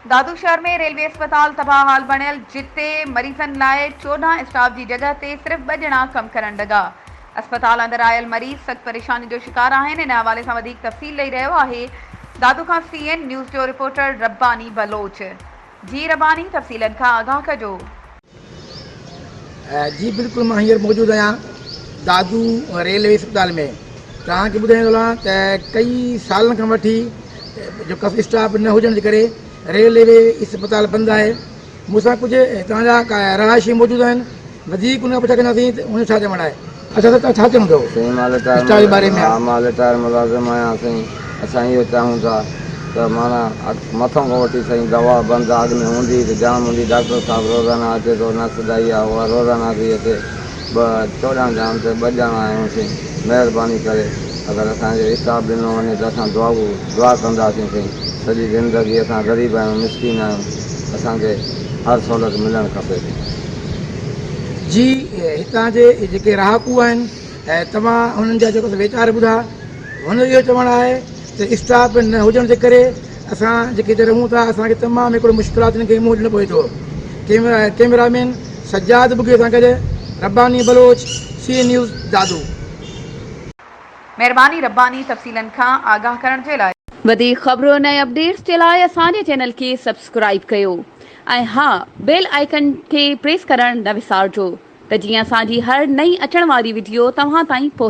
دادو شهر ۾ ريلوي اسپتال تباهه حال بڻيل جتي مريضن لاء چوڏهن اسٽاف جي جڳهه تي صرف ٻه ڄڻا ڪم ڪرڻ لڳا. اسپتال اندر آيل مريض سخت پريشاني جو شڪار آهن ان حوالي سان وڌيڪ تفصيل ڏئي رهيو آهي دادو کان سي اين نيوز جو رپورٽر رباني بلوچ. جي رباني تفصيلن کان آگاهه ڪجو. جي بلڪل مان هينئر موجود آهيان دادو ريلوي اسپتال ۾ توهان کي ٻڌائڻ ٿو چاهيان ته ڪئي سالن کان وٺي جو ڪف اسٽاف نه هجڻ جي ڪري ريلوي اسپتال بند آهي مون سان ڪجهه هتان جا رهائشي موجود آهن وڌيڪ ان کان پڇا ڪنداسين ته هن ڇا چوڻ آهي اچا سر توهان ڇا چوڻ ٿو اسٽار جي باري ۾. مان رٽائر ملازم آهيان سائين اسان اهو چاهون ٿا ته معنيٰ مٿن کان وٺي سائين دوا بند آ اڳ ۾ هوندي ته جام هوندي ڊاڪٽر صاحب روزانه اچي ٿو نرس دائي آ اها روزانه ٿي اچي ٻه چوڏهن ڄاڻن تي ٻه ڄاڻا آهيون سائين مهرباني ڪري اگر اسان کي اسٽاف ڏنو وڃي ته اسان دعائو دعا ڪنداسين سائين سڄي زندگي اسان غريب آهيون مسڪين آهيون اسان کي هر سهولت ملڻ کپي سائين. جي هتان جي جيڪي رهاڪو آهن ۽ توهان هنن جا جيڪو ويچار ٻڌا هن جو اهو چوڻ آهي ته اسٽاف نه هجڻ جي ڪري اسان جيڪي هتي رهون ٿا اسانکي تمام هڪڙو مشڪلاتن کي منهن ڏيڻو پوي ٿو camera cameraman Sajjad Bugio سان گڏ Rabbani Baloch C N news Dadu. مھرباني رباني تفصيلن کان آگاھ ڪرڻ جي لاء. وڌيڪ خبرون ۽ اپڊيٽس جي لاء اسان جي چينل کي سبسڪرائيب ڪيو ۽ ها بيل آئيڪن کي پريس ڪرڻ نه وسارجو ته جيئن اسان جي هر نئين اچڻ واري وڊيو توهان تائين